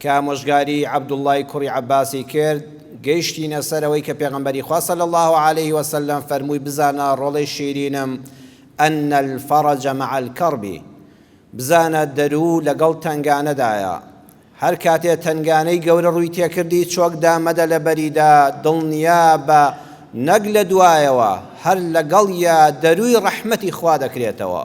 کە ئامۆژگاریی عەبدوڵڵای کوڕی عەبباسی کرد، گەیشتینە سەر ئەوەی کە پێغەمبەری خوا صلی اللە علیه و سلم فەرمووی بزانە ڕۆڵەی شیرینم، ان الفرج مع الکرب، بزانە دەروو لەگەڵ تەنگانەدایە، هەر کاتێ تەنگانەی گەورە ڕووی تێکردی چۆک دامەدە لە بەریدا، دڵنیابە نەک لە دوایەوە، هەر لەگەڵیا دەرووی ڕەحمەتی خوا دەکرێتەوە.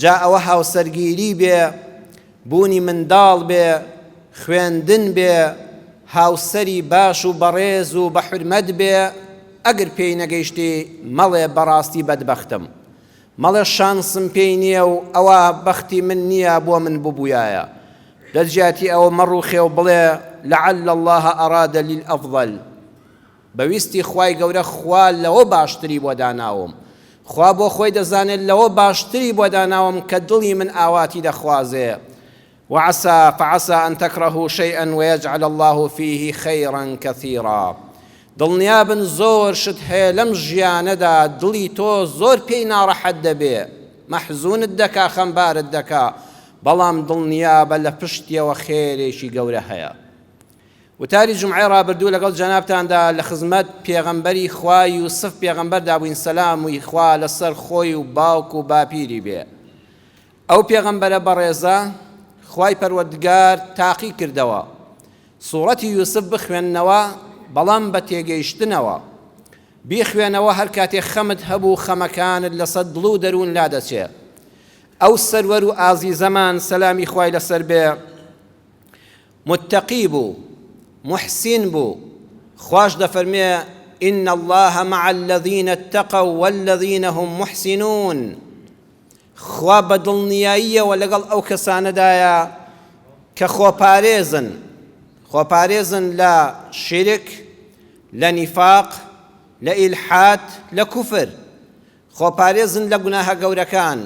جا ئەوە هاوسەرگیری بێ، بوونی منداڵ بێ، خوێندن بێ، هاوسەری باش و بەڕێز و بە حورمەت بێ، ئەگر پێی نەگەیشتی مەڵێ بەڕاستی بەدبەختم، مەڵێ شانسم پێی نییە و ئەوە بەختی من نییە بۆ من ببوویایە، لەجیاتی ئەوە مەڕووخێ و بڵێ لعل اللە اراد لی الافضل. بە ویستی خوای گەورە خوا لەوە باشتری بۆ داناوم خوا بۆ خۆی دەزانێت لەوە باشتری بۆ داناوم کە دڵی من ئاواتی دەخوازێ وعسا فعسا ان تکرهو شیئا ویجعل اللە فیه خیرا کثیرا دڵنیابن زۆر شت هەیە لەم ژیانەدا دڵی تۆ زۆر پێی ناڕەحەت دەبێ مەحزونت دەکا خەمبارت دەکا بەڵام دڵنیابە لە پشتیەوە خێرێکی گەورە هەیە. وتاری جومعەی ڕابردوو لەگەڵ جەنابتاندا لە خزمەت پێغەمبەری خوا یوسف پێغەمبەردا بووین سەلاموی خوا لەسەر خۆی و باوک و باپیری بێ ئەو پێغەمبەرە بەڕێزە خوای پەروەردگار تاقی کردەوە سوڕەتی یوسف بخوێننەوە بەڵام بە تێگەیشتنەوە بیخوێنەوە هەر کاتێ خەمت هەبوو خەمەکانت لەسەر دڵ و دەروون لا دەچێ ئەو سەروەر و ئازیزەمان سەلامی خوای لەسەر بێ متقی بوو موحسین بوو خواش دەفەرموێ ان اللە مع الذین اتقوا والذین هم محسنون خوا بە دڵنیاییەوە لەگەڵ ئەو کەسانەدایە کە خۆپارێزن خۆپارێزن لە شیرک لە نیفاق لە ئیلحاد لە کوفر خۆپارێزن لە گوناهە گەورەکان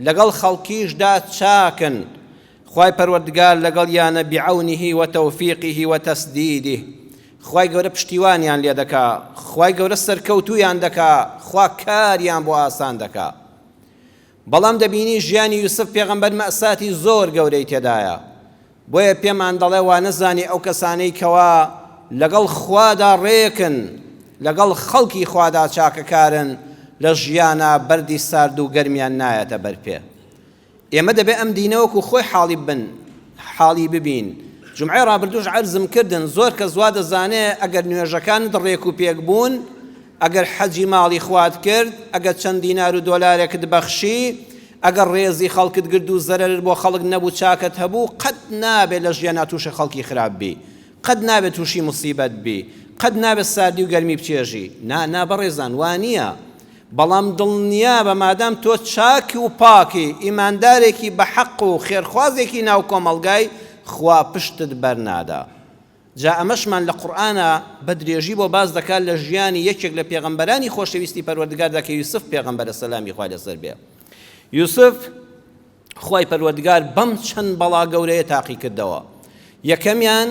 لەگەڵ خەڵکیشدا چاکن خوای پەروەردگار لەگەڵیانە بعونه وتوفیقه وتسدیده خوای گەورە پشتیوانیان لێ دەکا خوای گەورە سەرکەوتویان دەکا خوا کاریان بۆ ئاسان دەکا بەڵام دەبینی ژیانی یوسف پێغەمبەر مەساتی زۆر گەورەی تێدایە بۆیە پێمان دەڵێ وانەزانی ئەو کەسانەی کەوا لەگەڵ خوادا ڕێکن لەگەڵ خەڵکی خوادا چاکەکارن لە ژیانا بەردی سارد و گەرمیان نایەتە بەر پێ ئێمە دەبێ ئەم دینەوەکو خۆی حاڵی بن حاڵی ببین جمعی ڕابردوش عەرزم کردن زۆر کە زوا دەزانێ ئەگەر نوێژەکانت ڕێک و پێک بوون ئەگەر حەجی ماڵی خوات کرد ئەگەر چەند دینار و دۆلارێکت بەخشی ئەگەر ڕێزی خەڵکت گرت و زەرەرت بۆ خەڵک نەبوو چاکەت هەبوو قەت نابێت لە ژیانا تووشی خەڵکی خراپ بی قەت نابێت تووشی موسیبەت بی قەت نابێت ساردی و گەرمی بچێژی نا نا بەڕێزان وانییە بەڵام دڵنیابە مادام تۆ چاک و پاکی ئیماندارێکی بەحەق و خێرخوازێکی ناو کۆمەڵگای خوا پشتت بەرنادا جا ئەمەشمان لە قورئانا بە درێژی بۆ باس دەکات لە ژیانی یەکێک لە پێغەمبەرانی خۆشەویستی پەروەردگاردا کە یوسف پێغەمبەرە سەلامی خوا لەسەر بێ یوسف خوای پەروەردگار بەم چەند بەڵا گەورەیە تاقی کردەوە یەکەمیان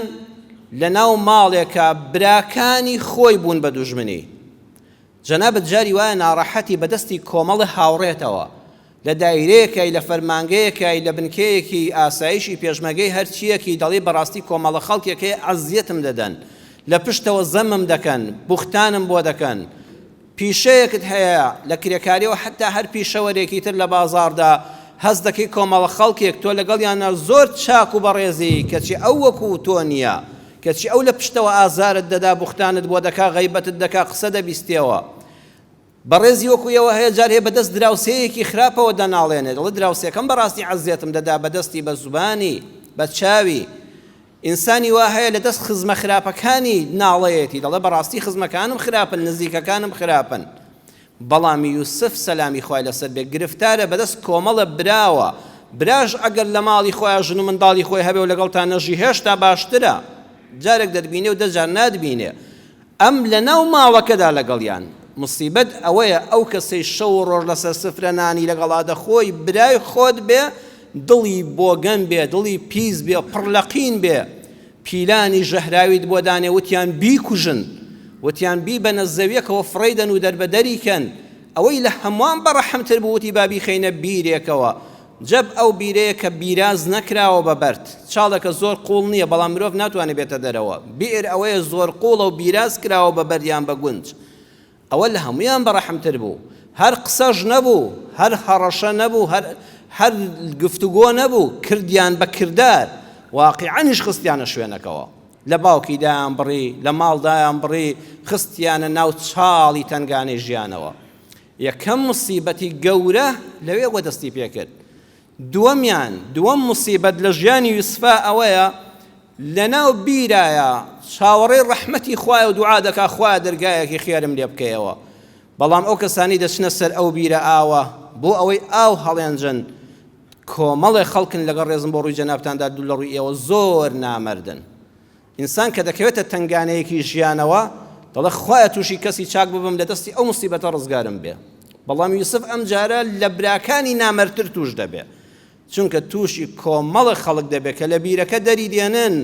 لە ناو ماڵێکە براکانی خۆی بوون بە دوژمنی جەنابەت جاری وایە ناڕەحەتی بەدەستی کۆمەڵە هاوڕێتەوە لە دایرەیەکای، لە فەرمانگەیەکای، لە بنکەیەکی ئاسایشی پێشمەرگەی هەرچییەکی دەڵی بەڕاستی کۆمەڵە خەڵکێک هەیە ئەزیەتم دەدەن، لە پشتەوە زەمم دەکەن، بوختانم بۆ دەکەن. پیشەیەکت هەیە لە کرێکارییەوە حەتتا هەر پیشەوەرێکی تر لە بازاڕدا هەست دەکەی کۆمەڵە خەڵکێک تۆ لەگەڵیانا زۆر چاک و بەڕێزی کەچی ئەو وەکوو تۆ نییە، کەچی ئەو لە پشتەوە ئازارت دەدا، بوختانت بۆ دەکا، غەیبەتت دەکا، قسە دەبیستێەوە. بەڕێزی وەکو ئێوە هەیە جار هەیە بەدەست دراوسێیەکی خراپەوە دەناڵێنێت دەڵێت دراوسێکەم بەڕاستی عەزێتم دەدا بەدەستی بە زوبانی بە چاوی ئینسانی وا هەیە لە دەست خزمە خراپەکانی ناڵەیەتی دەڵێ بەڕاستی خزمەکانم خراپن نزیکەکانم خراپن بەڵام یوسف سەلامی خوای لەسەر بێ گرفتارە بەدەست کۆمەڵە براوە براش ئەگەر لە ماڵی خۆیان ژن و منداڵی خۆی هەبێ و لەگەڵ تا نەژی هێشتا باشترە جارێک دەتبینێ و دەجار ناتبینێ ئەم لەناو ماوەکەدا لەگەڵیان. موسیبەت ئەوەیە ئەو کەسەی شەو و ڕۆژ لەسەر سفرە نانی لەگەڵا دەخۆی برای خۆت بێ دڵی بۆگەن بێ دڵی پیس بێ پڕ لە قین بێ پیلانی ژەهراویت بۆ دانێ وتیان بیکوژن وتیان بیبەنە زەویەکەوە فڕێیدەن و دەربەدەری کەن ئەوەی لە هەموان بەڕەحم تر بوو وتی با بیخەینە بیرێکەوە جەب ئەو بیرەیە کە بیراز نەکراوە بە بەرد. چاڵێکە زۆر قووڵ نییە، بەڵام مرۆڤ ناتوانێت بێتە دەرەوە. بئر ئەوەیە زۆر قووڵە و بیراز کراوە بە بەرد یان بە گونج. ئەوە لە هەموویان بەڕەحمتر بوو. هەر قسەش نەبوو، هەر هەڕەشە نەبوو، هەر هەر گفتوگۆ نەبوو، کردیان بە کردار، واقیعەنیش خستیانە شوێنەکەوە. لە باوکی دایان بڕی، لە ماڵ دایان بڕی، خستیانە ناو چاڵی تەنگانەی ژیانەوە. یەکەم موسیبەتی گەورە لەوێ بووە دەستی پێ کرد دووەمیان دووەم موسیبەت لە ژیانی یوسفا ئەوەیە لەناو بیرایە چاوەڕێی ڕەحمەتی خوایە و دوعا دەکا خوایە دەرگایەکی خێرم لێ بکەیەوە بەڵام ئەو کەسانی دەچنە سەر ئەو بیرە ئاوە بۆ ئەوەی ئاو هەڵێنجن کۆمەڵێ خەڵکن لەگەڵ ڕێزم بۆ ڕووی جەنابتاندا دوو لە ڕووی ئێوە زۆر نامەردن ئینسان کە دەکەوێتە تەنگانەیەکی ژیانەوە دەڵێ خوایە توشی کەسی چاک ببم لە دەستی ئەو موسیبەتە ڕزگارم بێ بەڵام یوسف ئەم جارە لە براکانی نامەرتر توش دەبێ چونکە توشی کۆمەڵە خەڵک دەبێ کە لە بیرەکە دەری دێنن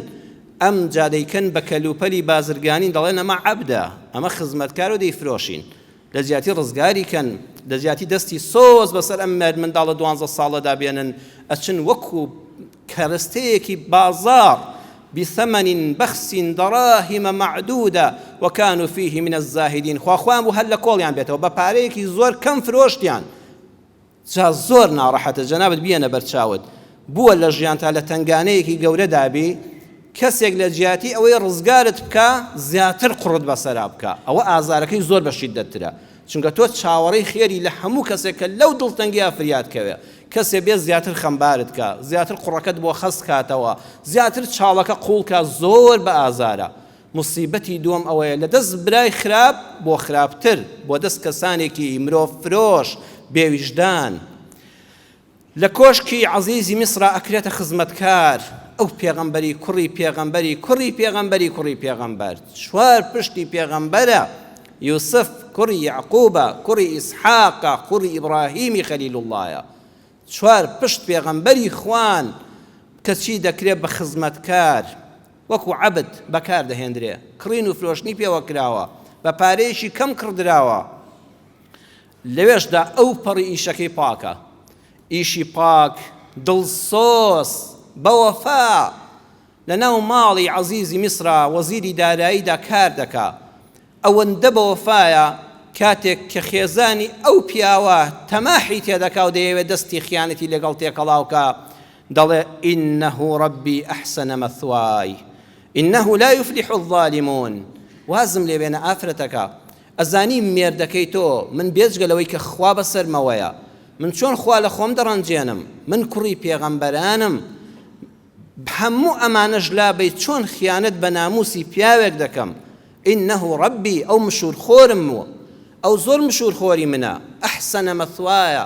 ئەم جادەیکەن بە کەلوپەلی بازرگانی دەڵێن ئەمە عەبدە ئەمە خزمەتکار و دەیفرۆشین لەجیاتی ڕزگاری کەن لەجیاتی دەستی سۆز بەسەر ئەم مەر منداڵە دوانزە ساڵەدا بێنن ئەچن وەکو کەرستەیەکی بازاڕ بثمن بخس دراهم معدودە وكانوا فيه من الزاهدین خوا خۆیان بوو هەر لەکۆڵیان بێتەوە بەپارەیەکی زۆر کەم فرۆشتیان جا زۆر ناڕەحەتە جەنابت بیەنە بەر چاوت بووە لە ژیانتا لە تەنگانەیەکی گەورەدا بی کەسێک لە جیاتی ئەوەی ڕزگارت بکا زیاتر قوڕت بەسەرا بکا ئەوە ئازارەکەی زۆر بە شیدەتترە چونکە تۆ چاوەڕێی خێری لە هەموو کەسێک کە لەو دڵتەنگیا فریاد کەوێ کەسێ بێ زیاتر خەمبارت کە زیاتر قوڕەکەت بۆ خەست کاتەوە زیاتر چاڵەکە قوڵکە زۆر بە ئازارە موسیبەتی دووەم ئەوەیە لە دەست برای خراپ بۆ خراپتر، بۆ دەست کەسانێکی مرۆڤ فرۆش، بێ ویژدان، لە کۆشکی عەزیزی میسرا ئەکرێتە خزمەتکار، ئەو پێغەمبەری کوڕی پێغەمبەری کوڕی پێغەمبەری کوڕی پێغەمبەر، چوار پشتی پێغەمبەرە، یوسف کوڕی یەعقوبە، کوڕی ئیسحاقە، کوڕی ئیبڕاهیمی خەلیل اللەیە، چوار پشت پێغەمبەری خوان، کەچی دەکرێت بە خزمەتکار، وەکو عەبد بەکار دەهێندرێ، کڕین و فرۆشتنی پێوە کراوە، بە پارەیەکی کەم کڕدراوە، لەوێشدا ئەو پەڕی ئیشەکەی پاکە، ئیشی پاک، دڵسۆز، بەوەفا، لەناو ماڵی عەزیزی میسرا وەزیری داراییدا کار دەکا، ئەوەندە بەوەفایە کاتێک کە خێزانی ئەو پیاوە تەماحی تێدەکا و دەیەوێت دەستی خیانەتی لەگەڵ تێکەڵاو کا دەڵێ، انه ربی احسن مثوای انه لا یفلح الظالمون، وازم لێ بێنە ئافرەتەکە، ئەزانی مێردەکەی تۆ من بێجگە لەوەی کە خوا بەسەرمەوەیە من چۆن خوا لە خۆم دەڕەنجێنم، من کوڕی پێغەمبەرانم، هەموو ئەمانەش لابەی چۆن خیانەت بە ناموسی پیاوێک دەکەم انه ربی ئەو مشور خۆرم و ئەو زۆر مشور خۆری منە احسن مثوای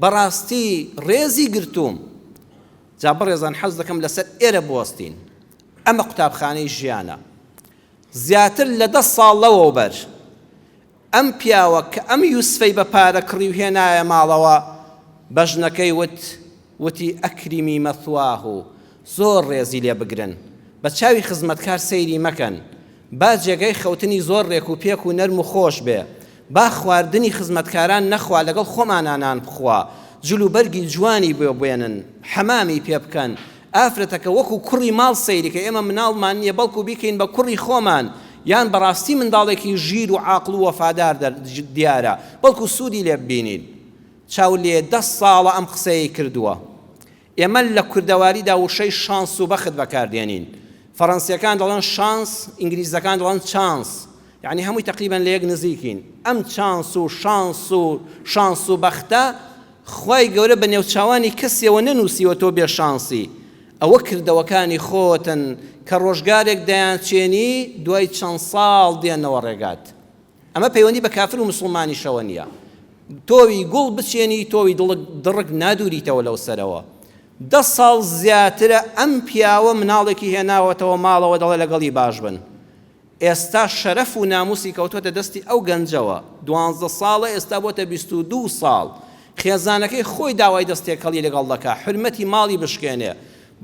بەڕاستی ڕێزی گرتووم جا بەڕێزان حەز دەکەم لەسەر ئێرە بوەستین ئەمە قوتابخانەی ژیانە زیاتر لە دە ساڵ لەوەوبەر ئەم پیاوە کە ئەم یوسفەی بە پارە کڕی و هێنایە ماڵەوە بە ژنەکەی وت وتی اکرمی مثواه زۆر ڕێزی لێ بگرن بە چاوی خزمەتکار سەیری مەکەن با جێگای خەوتنی زۆر ڕێک و پێک و نەرم و خۆش بێ با خواردنی خزمەتکاران نەخوا لەگەڵ خۆمانا نان بخوا جلوبەرگی جوانی بۆ بێنن حەمامی پێ بکەن ئافرەتەکە وەکو کوڕی ماڵ سەیری کە ئێمە مناڵمان نیە بەڵکو بیکەین بە کوڕی خۆمان یان بەڕاستی منداڵێکی ژیر و عاقڵ و وەفادار دیارە بەڵکو سودی لێ ببینین چاولێ دە ساڵە ئەم قسەیەی کردووە ئێمە لە کوردەواریدا وشەی شانس و بەخت بەکاردێنین فەڕەنسیەکان دەڵێن شانس ئینگلیزەکان دەڵێن چانس یەعنی هەمووی تەقریبەن لە یەک نزیکین ئەم چانس و شانس و شانس و بەختە خوای گەورە بە نێوچاوانی کەسیەوە نەنووسیوە تۆ بێ شانسی ئەوە کردەوەکانی خۆتن کە ڕۆژگارێک دەیانچێنی دوای چەند ساڵ دێنەوە ڕێگات ئەمە پەیوەندی بە کافر و مسلمانیشەوە نییە تۆوی گوڵ بچێنی تۆوی دڵک دڕک نادوریتەوە لەو سەرەوە دە ساڵ زیاترە ئەم پیاوە مناڵێکی هێناوەتەوە ماڵەوە دەڵێ لەگەڵی باش بن ئێستا شەرەف و ناموسی کەوتۆتە دەستی ئەو گەنجەوە دوانزدە ساڵە ئێستا بۆتە بیست و دوو ساڵ خێزانەکەی خۆی داوای دەست تێکەڵی لەگەڵ دەکا حورمەتی ماڵی بشکێنێ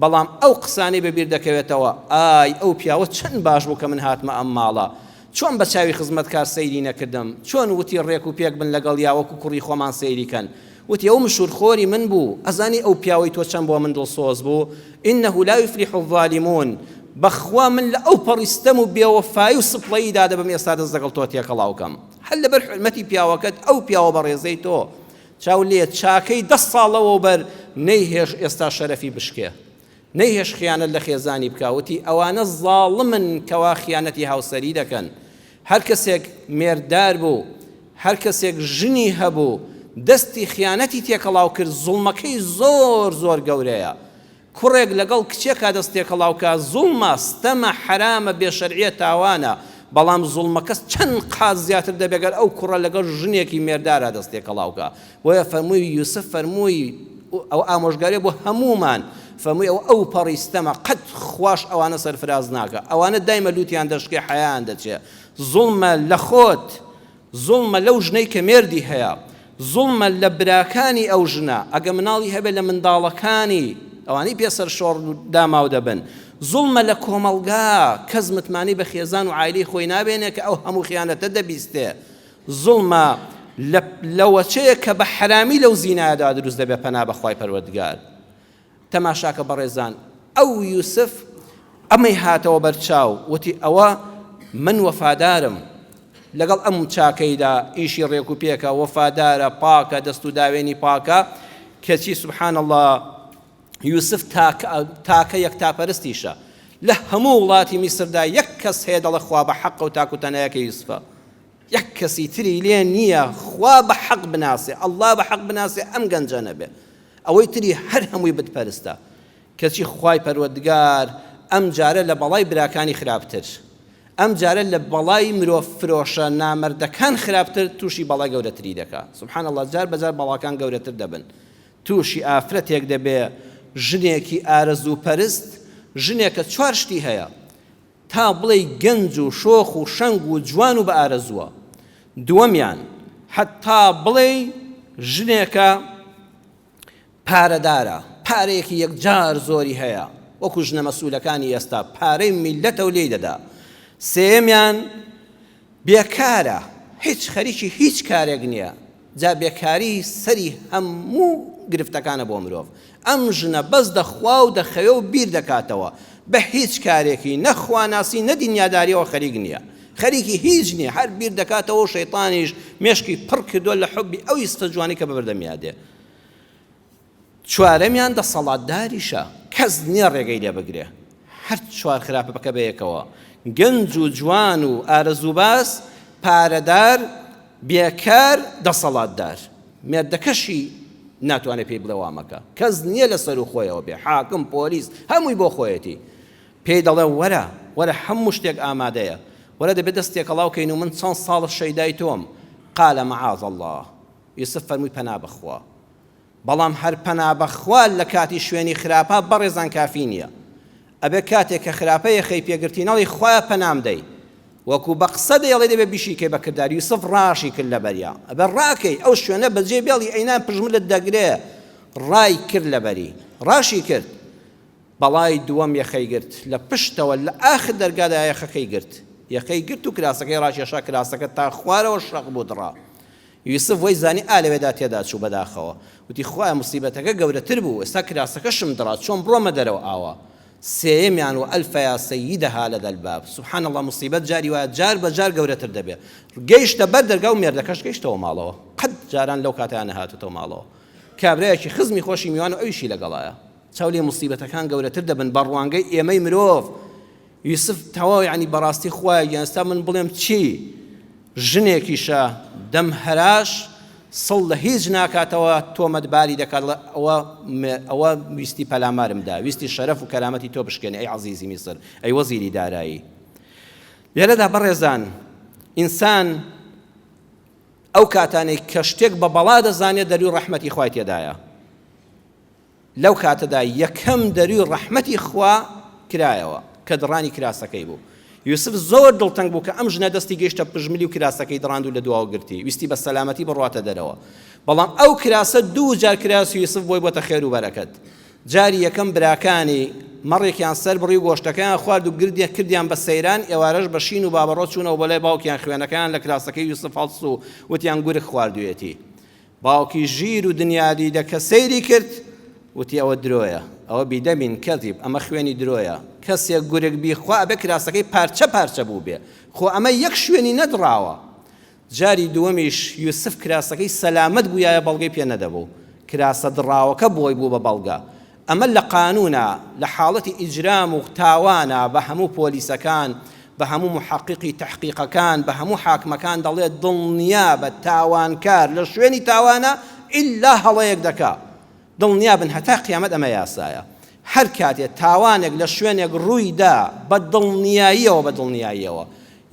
بەڵام ئەو قسانەی بە بیر دەکەوێتەوە ئای ئەو پیاوە چەند باش بوو کە من هاتمە ئەم ماڵە چۆن بە چاوی خزمەتکار سەیری نەکردم چۆن وتی ڕێک و پێک بن لەگەڵیا وەکو کوڕی خۆمان سەیری کەن وتی ئەو مشور خۆری من بوو ئەزانی ئەو پیاوەی تۆ چەند بۆ من دڵسۆز بوو انه لا یفلح الظالمون بەخوا من لە ئەو پەڕی ستەم و بێوەفایی و سپڵەیی دادەبەم ئێستا دەست لەگەڵ تۆ تێکەڵاو کەم هەر لەبەر حورمەتی پیاوەکەت ئەو پیاوە بەڕێزەی تۆ چاو لێ چاکەی دە ساڵ لەوەوبەر نەیهێش ئێستا شەرەفی بشکێ نەیهێش خیانەت لە خێزانی بکا وتی ئەوانە زاڵمن کەوا خیانەتی هاوسەری دەکەن هەر کەسێک مێرددار بوو، هەر کەسێک ژنی هەبوو، دەستی خیانەتی تێکەڵاو کرد، زوڵمەکەی زۆر زۆر گەورەیە. کوڕێک لەگەڵ کچێکا دەست تێکەڵاو کا، زوڵمە، ستەمە، حەرامە، بێ شەرعییە، تاوانە. بەڵام زوڵمەکە چەند قات زیاتر دەبێ گەر ئەو کوڕە لەگەڵ ژنێکی مێرددارا دەست تێکەڵاو کا. بۆیە فەرمووی یوسف فەرمووی ئەو ئامۆژگاریە بۆ هەمومان فەرمووی ئەو ئەو پەڕی ستەمە قەت خواش ئەوانە سەرفراز ناکە ئەوانە دایمە لوتیان دەشکێ حەیان دەچێ زوڵمە لە خۆت زوڵمە لەو ژنەی کە مێردی هەیە زوڵمە لە براکانی ئەو ژنە ئەگە مناڵی هەبێ لە منداڵەکانی ئەوانەی پێ سەر شۆڕ داماو دەبن زوڵمە لە کۆمەڵگا کەس متمانی بە خێزان و عیلی خۆی نابێنێ کە ئەو هەموو خیانەتە دەبیستێ زوڵمە لە لە وەچەیە کە بە حەرامی لەو زینایەدا دروست دەبێت پەنا بەخوای پەروەردگار تەماشاکە بەڕێزان ئەو یوسف ئەمەی هاتەوە بەرچاو وتی ئەوە من وەفادارم لەگەڵ ئەم چاکەیدا ئیشی ڕێک و پێکە وەفادارە پاکە دەست و داوێنی پاکە کەچی سبحان الله یوسف تاکە یەک تاپەرستیشە لە هەموو وڵاتی میسردا یەک کەس هەیە دەڵە خوا بە حەقە و تاکوتەنایەکە یوسفە یەک کەسی تری لێ نیە خوا بە حەق بناسێ ئەڵا بە حەق بناسێ ئەم گەنجە نەبێ ئەوەی تری هەر هەمووی بت پەرستە کەچی خوای پەروەردگار ئەم جارە لە بەڵای براکانی خراپتر ئەم جارە لە بەڵای مرۆڤ فرۆشە نامەردەکان خراپتر تووشی بەڵای گەورەتری دەکا سبحان الله جار بەجار بەڵاکان گەورەتر دەبن تووشی ئافرەتێک دەبێ ژنێکی ئارەزوو پەرست ژنێکە چوار شتی هەیە تا بڵێی گەنج و شۆخ و شەنگ و جوان و بە ئارەزووە. دووەمیان، حەتتا بڵێی ژنێکە پارەدارە، پارەیەکی یەکجار زۆری هەیە، وەکو ژنە مەسئولەکانی ئێستا، پارەی میللەتە و لێی دەدا. سێیەمیان، بێکارە هیچ خەریکی هیچ کارێک نیە جا بێکاری سەری هەموو گرفتەکانە بۆ مرۆڤ ئەم ژنە بەس دەخوا و دەخەوێ و بیر دەکاتەوە بە هیچ کارێکی نە خواناسی نە دینیاداریەوە خەریک نیە خەریکی هیچ نیە هەر بیر دەکاتەوە و شەیتانیش مێشکی پڕ کردوە لە حوبی ئەو یستە جوانی کە بە بەردەمیا دێ چوارەمیان دەسەڵاتداریشە کەس نیە ڕێگەی لێ بگرێ هەر چوار خراپەکە بەیەکەوە گەنج و جوان و ئارەزوباز پارەدار بێکار دەسەڵاتدار مێردەکەشی ناتوانێ پێی بڵێ وامەکە کەس نیە لە سەرو خۆیەوە بێ حاکم پۆلیس هەمووی بۆ خۆیەتی پێی دەڵێ وەرە وەرە هەموو شتێک ئامادەیە وەرە دەبێت دەست تێکەڵاو کەین و من چەند ساڵە شەیدای تۆم قالە معاذ الله یوسف فەرمووی پەنا بەخوا بەڵام هەر پەنا بەخوا لە کاتی شوێنی خراپە بەڕێزان کافی نیە ئەبێ کاتێ کە خراپە یەخەی پێگرتی نەڵی خوایە پەنام دەی وەکو بە قسە دەیڵێ دەبێ بیشیکەی بە کردار یوسف ڕاشی کرد لەبەریا ئەبێ ڕاکەی ئەو شوێنە بەجێ بێڵی ئەینا پژملت دەگرێ ڕای کرد لەبەری ڕاشی کرد بەڵای دووەم یەخەی گرت لە پشتەوە لە ئاخر دەرگادا یەخەکەی گرت یەخەی گرت و کراسەکەی ڕاکێشا کراسەکە تا خوارەوە شەق بوو دڕا یوسف وەی زانی ئا لەوێدا تێدا چوو بەداخەوە وتی خوایە موسیبەتەکە گەورەتر بوو ئێستا کراسەکەشم دڕا چۆن بڕۆمە دەرەوە ئاوا سێیەمیان وەئەلفە یا سەیدەها لەدە الباب سبحان اللە موسیبەت جاری وایە جار بە جار گەورەتر دەبێ گەیشتە بەر دەرگا و مێردەکەش گەیشتەوە ماڵەوە قەت جاران لەو کاتەیان نەهاتوتەوە ماڵەوە کابرایەکی خزمی خۆشی میوان و ئەویشی لەگەڵایە چاو لێ موسیبەتەکان گەورەتر دەبن بە ڕوانگەی ئێمەی مرۆڤ یوسف، تەواو یانی بەڕاستی خوایە گیان ستا من بڵێم چی ژنێکیشە دەم هەراش سڵ لە هیچ ناکاتەوە تۆمەت باری دەکات ڵە ئەوە ئەوە ویستی پەلامارم دا ویستی شەرەف و کەرامەتی تۆ بشکێنێ ئەی عەزیزی میسر ئەی وەزیری دارایی لێرەدا بەڕێزان ئینسان ئەو کاتانەی کە شتێک بە بەڵا دەزانێت دەروی ڕەحمەتی خوای تێدایە لەو کاتەدا یەکەم دەروی ڕەحمەتی خوا کرایەوە کە دڕانی کراسەکەی بوو. یوسف زۆر دڵتەنگ بوو کە ئەم ژنە دەستی گەیشتە پژملی و کراسەکەی دڕاند و لە دواوە گرتی، ویستی بە سەلامەتی بڕواتە دەرەوە. بەڵام ئەو کراسە دوو جار کراسی یوسف بۆی بۆتە خێر و بەرەکەت. جاری یەکەم براکانی مەڕێکیان سەر بڕی و گۆشتەکەیان خوارد و گردیان کردیان بە سەیران، ئێوارەش بە شین و بابەڕۆ چوونەوە بۆ لای باوکیان خوێنەکەیان لە کراسەکەی یوسف هەڵس و وتیان گورگ خواردوویەتی. باوکی ژیر و دنیا دیدە کە سەیری کرد وتی ئەوە درۆیە ئەوە بیدەمین کەزیب ئەمە خوێنی درۆیە کەسێک گورگ بیخوا ئەبێ کراسەکەی پارچە پارچە بووبێ خۆ ئەمە یەک شوێنی نەدڕاوە جاری دووەمیش یوسف کراسەکەی سەلامەت بوویایە بەڵگەی پێ نەدەبوو کراسە دڕاوەکە بۆی بوو بە بەڵگە ئەمە لە قانونا لە حاڵەتی ئیجرام و تاوانا بە هەموو پۆلیسەکان بە هەموو محەقیقی تەحقیقەکان بە هەموو حاکمەکان دەڵێت دڵنیابە تاوانکار لە شوێنی تاوانا ئیلا هەڵەیەک دەکا دڵنیابن هەتا قیامەت ئەمە یاسایە هەر کاتێ تاوانێک لە شوێنێک ڕووی دا بە دڵنیاییەوە بە دڵنیاییەوە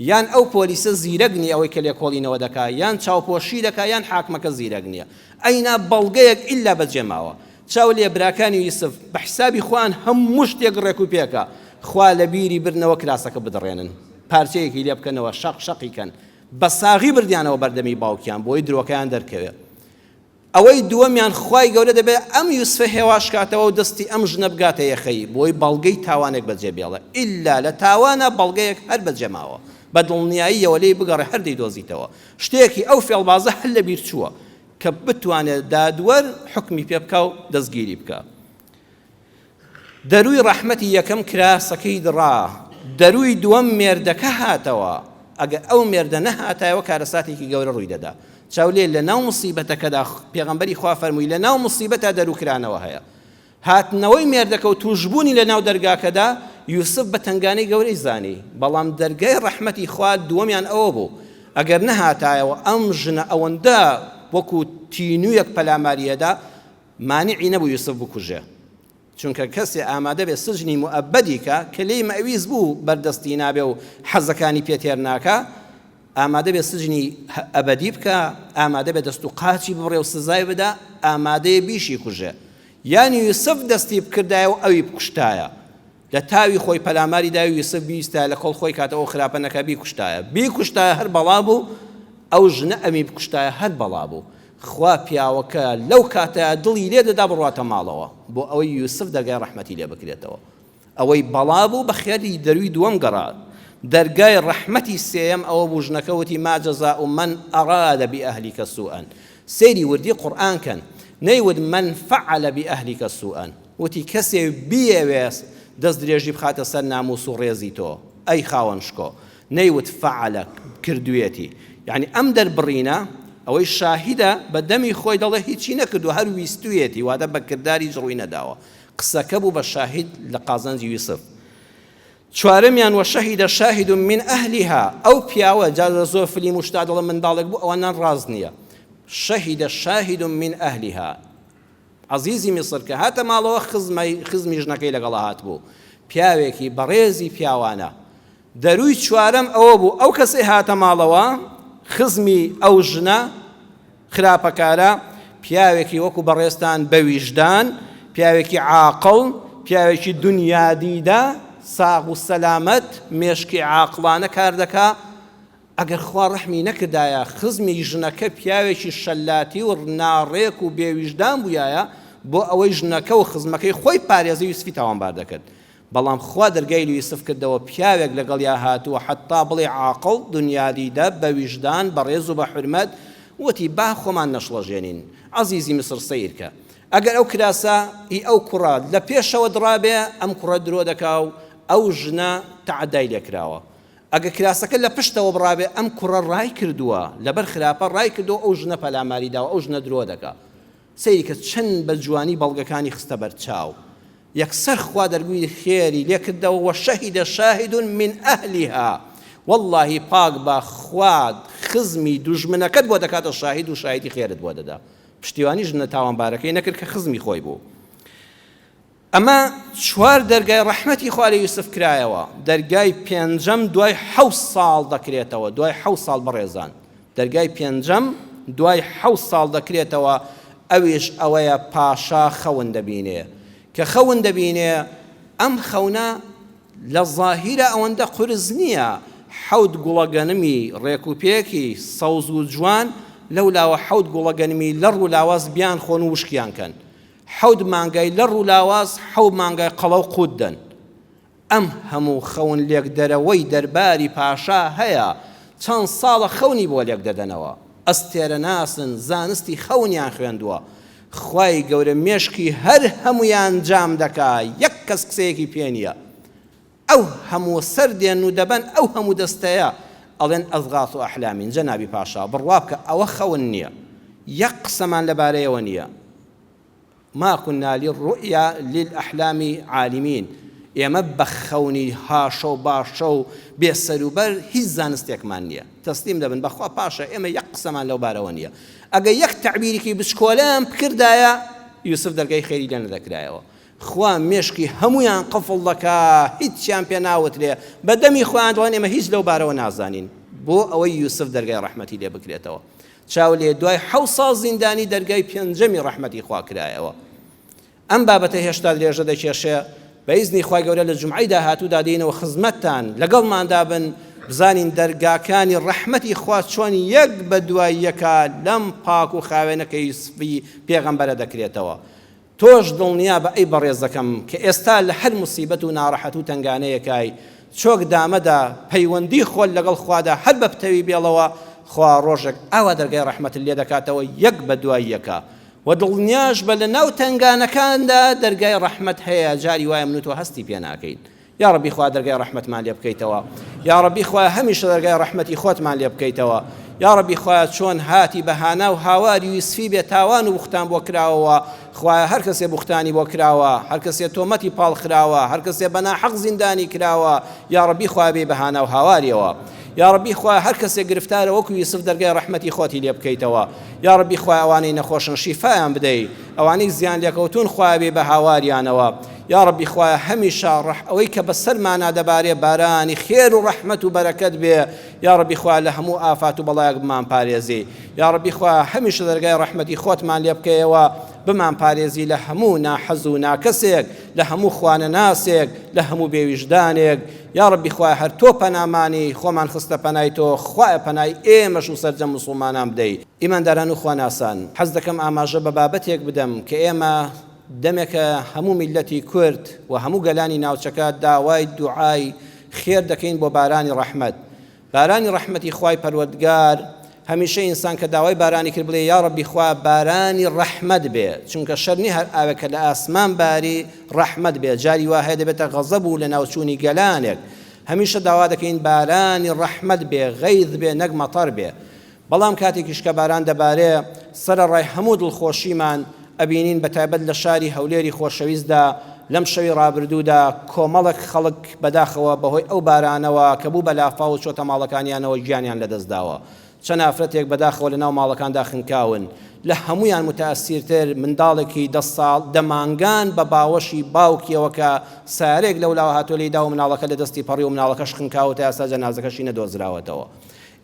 یان ئەو پۆلیسە زیرەک نیە ئەوەی کە لێکۆڵینەوە دەکا یان چاوپۆشی دەکا یان حاکمەکە زیرەک نیە ئەینا بەڵگەیەک ئیلا بەجێماوە چاو لێ براکانی یوسف بە حیسابی خۆیان هەموو شتێک ڕێک و پێکە خوا لە بیری برنەوە کراسەکە بدڕێنن پارچەیەکی لێ بکەنەوە شەق شەقی کەن بە ساغی بردیانەوە بەردەمی باوکیان بۆی درۆکەیان دەرکەوێت ئەوەی دووەمیان خوای گەورە دەبێت ئەم یوسفە هێواش کاتەوە و دەستی ئەم ژنە بگاتە یەخەی بۆی بەڵگەی تاوانێک بەجێ بێڵە ئللا لە تاوانە بەڵگەیەک هەر بەجێ ماوە بە دڵنیاییەوە لێی بگەڕێ هەر دەیدۆزیتەوە شتێکی ئەو فێڵبازە هەر لە بیر چووە کە بتوانێت دادوەر حکمی پێ بکا و دەستگیری بکا دەروی ڕەحمەتی یەکەم کراسەکەی دڕا دەروی دووەم مێردەکە هاتەوە ئەگە ئەو مێردە نەهاتایەوە کارەساتێکی گەورە ڕووی دەدا چاولێ لە ناو مسیبەتەکەدا پێغمبەری خوا فەرمووی لە ناو مسیبەتا دەروکرانەوە هەیە هاتنەوەی مێردەکە و تووشبوونی لە ناو دەرگاکەدا، یوسف بە تەنگانەی گەورەی زانی، بەڵام دەرگای ڕەحمەتی خوا دووەمیان ئەوە بوو، ئەگەر نەهاتایەوە ئەم ژنە ئەوەندە وەکوو تینوویەک پەلاماری ئەدا، مانعی نەبوو یوسف بکوژێ، چونکە کەسێ ئامادە بێ سجنی موئەبەدی کا، کە لێی مەویست بوو بەردەستی نابێ و حەزەکانی پێ تێر ناکا، ئامادەبێ سجنی ئەبەدی بکا، ئامادەبێ دەست و قاچی ببڕێ و سزای بدا، ئامادەیە بیشیکوژێ. یان یوسف دەستی بکردایە و ئەوی بکوشتایە. لە تاوی خۆی پەلاماری دایە و یوسف بیویستایە لە کۆڵ خۆی کاتە ئەو خراپە نەکا بیکوشتایە. بیکوشتایە هەر بەڵا بوو، ئەو ژنە ئەمی بکوشتایە هەر بەڵا بوو. خوا پیاوەکە لەو کاتە دڵی لێ دەدا بڕواتە ماڵەوە، بۆ ئەوەی یوسف دەرگای ڕەحمەتی لێ بکرێتەوە. ئەوەی بەڵا بوو بە خێری دەروی دووەم گەڕا دەرگای ڕەحمەتی سێیەم ئەوە بوو ژنەکە وتی ما جەزاء من ئەراد بئەهلیک سوئا سەیری وردی قورئان کەن نەیوت من فعل بئەهلیک سوئا وتی کەسێ بیەوێت دەست درێژی بخاتە سەر ناموس و ڕێزی تۆ ئەی خاوەن شکۆ نەیوت فعل کردوێتی یعنی ئەم دەربڕینە ئەوەی شاهیدە بە دەمی خۆی دەڵێ هیچی نەکردو هەر ویستویەتی واتە بە کرداری جڕوی نەداوە قسەکە بوو بە شاهید لە قازانجی ویسڕ چوارەمیان وە شەهید شاهد من ئەهلیها ئەو پیاوە جا لە زۆر فلیم و شتا دەڵێ منداڵێک بوو ئەوە نان ڕاست نییە شەهید شاهد من ئەهلیها عەزیزی میسر کە هاتە ماڵەوە خزمەی خزمی ژنەکەی لەگەڵا هات بوو پیاوێکی بەڕێزی پیاوانە دەرووی چوارەم ئەوە بوو ئەو کەسەی هاتە ماڵەوە خزمی ئەو ژنە خراپەکارە، پیاوێکی وەکو بەڕێزتان بە ویژدان، پیاوێکی عاقڵ، پیاوێکی دونیا دیدە، ساغ و سەلامەت، مێشکی عاقڵانە کار دەکا، ئەگەر خوا ڕەحمی نەکردایە، خزمی ژنەکە پیاوێکی شەلاتی و ناڕێک و بێ ویژدان بوویایە، بۆ ئەوەی ژنەکە و خزمەکەی خۆی پارێزی یوسفی تاوانبار دەکرد. بەڵام خوا دەرگای لیوسف کردەوە پیاوێک لەگەڵیا هاتووە حەتا بڵێ عاقڵ دنیادیدە بەویژدان بەڕێز و بەحورمەت وتی با خۆمان نەشڵەژێنین عەزیزی میسر سەیرکە ئەگەر ئەو کراسە ی ئەو کوڕە لەپێشەوە دڕابێ ئەم کوڕە درۆ دەکا و ئەو ژنە تەعەدای لێکراوە ئەگەر کراسەکە لەپشتەوە بڕابێ ئەم کوڕە ڕایکردووە لەبەر خراپە ڕایکردووە ئەو ژنە پەلاماری داوە ئەو ژنە درۆ دەکا سەیرکە چەند بە جوانی بەڵگەکانی خستە بەرچاو. یەکسەر خوا دەرگوی خێری لێ کردەوە، وشهد شاهد من اهلها، وەڵڵاهی پاک بە خوا خزمی دوژمنەکەت بۆ دەکاتە شاهید و شایەتی خێرت بۆ دەدا. پشتیوانی ژنە تاوانبارەکەی نەکرد کە خزمی خۆی بوو. ئەمە چوار دەرگای ڕەحمەتی خوا لە یوسف کرایەوە، دەرگای پێنجەم دوای حەوت ساڵ دەکرێتەوە، دوای حەوت ساڵ بەڕێزان، دەرگای پێنجەم دوای حەوت ساڵ دەکرێتەوە، ئەویش ئەوەیە پاشا خەون دەبینێ، کە خەون دەبینێ ئەم خەونە لە زاهیرا ئەوەندە قورس نییە، حەوت گوڵە گەنمی ڕێک و پێکی سەوز و جوان لەو لاوە حەوت گوڵە گەنمی لەڕ و لاواز بیانخۆن و وشکیان کەن، حەوت مانگای لە ڕوو لاواز حەو مانگای قەڵەو قووت دەن. ئەم هەموو خەون لێکدەرەوەی دەرباری پاشا هەیە چەند ساڵە خەونی بۆ لێکدەدەنەوە. ئەستێرەناسن زانستی خەونیان خوێندووە. خوای گەورە مێشکی هەر هەموویان جام دەکا یەک کەس قسەیەکی پێ نییە. ئەو هەموو سەر دێن و دەبەن ئەو هەموو دەستەیە ئەڵێن ئەزغاث ئەحلامین جەنابی پاشا بڕوا بکە ئەوە خەون نیە یەک قسەمان لەبارەیەوە نیە ما کنا للرؤیا للاحلام عالمین ئێمە بە خەونی هاشە و باشە و بێ سەر و بەر هیچ زانستێکمان نیە تەسلیم دەبن بەخوا پاشا ئێمە یەک قسەمان لەو بارەوە نیە ئەگە یەک تەعبیرێکی بچکۆلەیان بکردایە یوسف دەرگای خێری لێ نەدەکرایەوە خوا مێشکی هەموویان قفڵ دەکا هیچیان پێ ناوترێ بە دەمی خۆیان دەڵێن ئێمە هیچ لەو بارەوە نازانین بۆ ئەوەی یوسف دەرگای ڕەحمەتی لێ بکرێتەوە چاو لێ دوای حەوت ساڵ زیندانی دەرگای پێنجەمی ڕەحمەتی خوا کرایەوە ئەم بابەتە هێشتا درێژە دەکێشێ بە ئیزنی خوای گەورە لە جومعەی داهاتوودا دێینەوە خزمەتتان لەگەڵماندا بن بزانین دەرگاکانی ڕەحمەتی خوا چۆن یەک بە دوای یەکە لەم پاک و خاوێنەکەی سفی پێغەمبەرە دەکرێتەوە تۆش دڵنیابە ئەی بەڕێزەکەم کە ئێستا لە هەر موسیبەت و ناڕەحەت و تەنگانەیەکای چۆک دامەدا پەیوەندی خۆت لەگەڵ خوادا هەر بە پتەوی بێڵەوە خوا ڕۆژێک ئاوا دەرگای ڕەحمەتت لێ دەکاتەوە یەک بە دوای یەکا وە دڵنیاشبە لە ناو تەنگانەکاندا دەرگای ڕەحمەت هەیە جاری وایە من و تۆ هەستی پێ ناکەین یاڕەبی خوا دەرگای ڕەحمەتمان لێ بکەیتەوە یاڕەبی خوایە هەمیشە دەرگای ڕەحمەتی خۆتمان لێ بکەیتەوە یاڕەبی خوایە چۆن هاتی بە هانا و هاواری یوسفی بێ تاوان و بوختان بۆ کراوەوە خوایە هەر کەسێ بوختانی بۆ کراوە هەر کەسێ تۆمەتی پاڵ خراوە هەر کەسێ بە ناحەق زیندانی کراوە یاڕەبی خوایە بێ بە هانا و هاواریەوە یاڕەبی خوایە هەر کەسێ گرفتارە وەکو یوسف دەرگای ڕەحمەتی خۆتی لێ بکەیتەوە یاڕەبی خوایە ئەوانەی نەخۆشن شیفایان بدەی ئەوانەی زیان لێکەوتوون خوایە بێ بە هاواریانەوە یاڕەبی خوایە هەمیشە ڕەح ئەوەی کە بەسەرمانا دەبارێ بارانی خێر و ڕەحمەت و بەرەکەت بێ یاڕەبی خوایە لە هەموو ئافات و بەڵایەک بمانپارێزی یاڕەبی خوایە هەمیشە دەرگای ڕەحمەتی خۆتمان لێ بکەیەوە بمانپارێزی لە هەموو ناحەز و ناکەسێک لە هەموو خوانەناسێک لە هەموو بێویژدانێک یاڕەبی خوایە هەر تۆ پەنامانی خۆمان خستە پەنای تۆ خوایە پەنای ئێمەش و سەرجەم موسڵمانان بدەی ئیمانداران و خواناسان حەز دەکەم ئاماژە بە بابەتێک بدەم کە ئێمە دەمێکە هەموو میللەتی کورد و هەموو گەلانی ناوچەکە داوای دوعای خێر دەکەین بۆ بارانی ڕەحمەت بارانی ڕەحمەتی خوای پەروەردگار هەمیشە ئینسان کە داوای بارانی کرد بڵێ یا ڕەبی خوا بارانی ڕەحمەت بێ چونکە شەر نی هەر ئاوێک کە لە ئاسمان باری ڕەحمەت بێ جاری وا هەیە دەبێتە غەزەب و لە ناوچوونی گەلانێک هەمیشە داوا دەکەین بارانی ڕەحمەت بێ غەیظ بێ نەک مەتەر بێ بەڵام کاتێکیش کە باران دەبارێ سەرەڕای هەموو دڵخۆشیمان ئەبینین بە تایبەت لە شاری هەولێری خۆشەویستدا لەم شەوی ڕابردوودا کۆمەڵێک خەڵک بەداخەوە بەهۆی ئەو بارانەوە کە بوو بە لافاو و چۆتە ماڵەکانیانەوە گیانیان لەدەستداوە چەند ئافرەتێک بەداخەوە لەناو ماڵەکاندا خنکاون لە هەموویان متەئەسیرتر منداڵێکی دە ساڵ دە مانگان بە باوەشی باوکیەوە کە سارێک لەولاوە هاتووە لێیداوە مناڵەکە لەدەستی پەڕی و مناڵەکەش خنکاوە تا ئێستا جەنازەکەشی نەدۆزراوەتەوە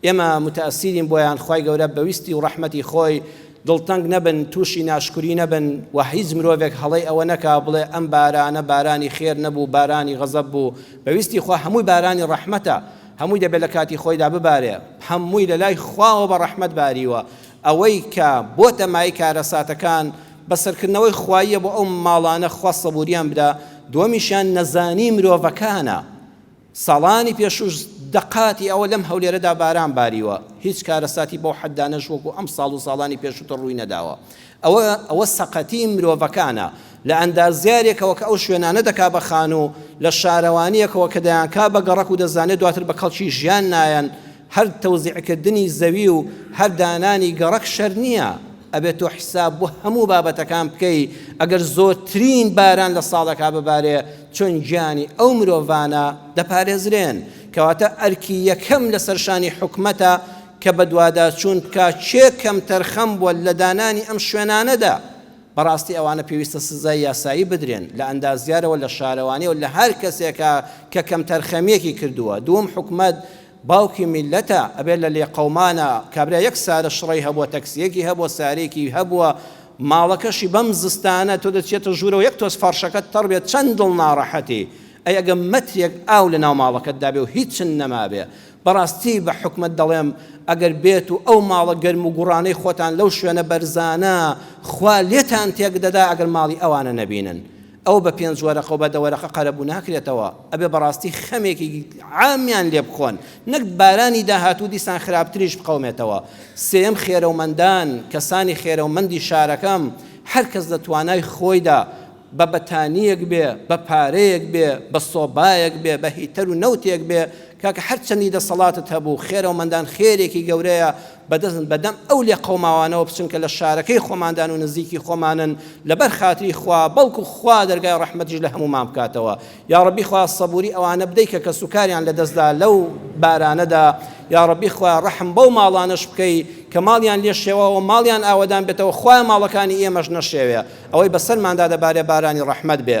ئێمە متاسیرین بۆیان خوای گەورە بەویستی و ڕەحمەتی خۆی دڵتەنگ نەبن توشی ناشکوری نەبن وە هیچ مرۆڤێک هەڵەی ئەوە نەکا بڵێ ئەم بارانە بارانی خێر نەبوو بارانی غەزەب بوو بەویستی خوا هەمووی بارانی ڕەحمەتە هەمووی دەبێت لە کاتی خۆیدا ببارێ هەمووی لە لای خواوە بە ڕەحمەت باریوە ئەوەی کە بۆتە مای کارەساتەکان بە سەرکردنەوەی خواییە بۆ ئەو ماڵانە خوا سەبوریان بدا دووەمیشیان نەزانی مرۆڤەکانە ساڵانی پێشووش دەقاتی ئەوە لەم هەولێرەدا باران باریوە، هیچ کارەساتی بەو حەددا نەش وەکو ئەمساڵ و ساڵانی پێشووتر ڕووی نەداوە. ئەوە ئەوە سەقەتیی مرۆڤەکانە لە ئەندازیارێکەوە کە ئەو شوێنانە دەکا بە خانوو، لە شارەوانییەکەوە کە دەیانکا بە گەڕەک و دەزانێ دواتر بە کەڵکی ژیان نایەن. هەر تەوزیعکردنی زەوی و هەر دانانی گەڕەک شەر نییە. ئەبێ تۆ حیساب بۆ هەموو بابەتەکان بکەی، ئەگەر زۆرترین باران لە ساڵێکا ببارێ، چۆن گیانی ئەو مرۆڤانە دەپارێزرێن، کەواتە ئەرکی یەکەم لەسەر شانی حکومەتە کە بەدواداچوون بکا کێ کەمتەرخەم بووە لە دانانی ئەم شوێنانەدا، بەڕاستی ئەوانە پێویستە سزای یاسایی بدرێن، لە ئەندازیارەوە لە شارەوانیەوە لە هەر کەسێکا کە کەمتەرخەمیەکی کردووە، دووەم حکومەت باوکی میلەتە ئەبێت لە لێقەومانە کابرا یەک سارە شڕەی هەبووە تەکسیەکی هەبووە سارێکی هەبووە ماڵەکەشی بەم زستانە تۆ دەچێتە ژوورەوە یەک تۆز فەڕشەکەت تەڕ بێت چەند دڵ ناڕەحەتی ئەی ئەگە مەترێک ئاو لە ناو ماڵەکەت دابێ و هیچن نەمابێ بەڕاستی بە حوکمت دەڵێم ئەگەر بێت و ئەو ماڵە گەرم و گوڕانەی خۆتان لەو شوێنە بەرزانە خوا لێتان تێک دەدا ئەگەر ماڵی ئەوانە نەبینن ئەوە بە پێنج وەرەقە و بە دە وەرەقە قەرەبوو ناکرێتەوە، ئەبێ بەڕاستی خەمێکی عامیان لێ بخۆن، نەک بارانی داهاتوو دیسان خراپتریش بقەومێتەوە. سێیەم، خێرەومەندان، کەسانی خێرەومەندی شارەکەم، هەر کەس لە توانای خۆیدا، بە بەتانییەک بێ، بە پارەیەک بێ، بە سۆبایەک بێ، بە هیتەر و نەوتێک بێ، کاکە هەرچەندی دەسەڵاتت هەبوو، خێرەومەندان خێرێکی گەورەیە، بەدەستن بەدەم ئەو لێقەوماوانەوە بچن کە لە شارەکەی خۆماندان و نزیکی خۆمانن لەبەر خاتری خوا بەڵکو خوا دەرگای ڕەحمەتیش لە هەموومان بکاتەوە یاڕەبی خوا سەبوری ئەوانە بدەی کە کەسوکاریان لەدەستدا لەو بارانەدا یاڕەبی خوا ڕەحم بەو ماڵانەش بکەی کە ماڵیان لێ شێواوە ماڵیان ئاوەدان بێتەوە خوای ماڵەکانی ئێمەش نەشێوێ ئەوەی بەسەرماندا دەبارێ بارانی ڕەحمەت بێ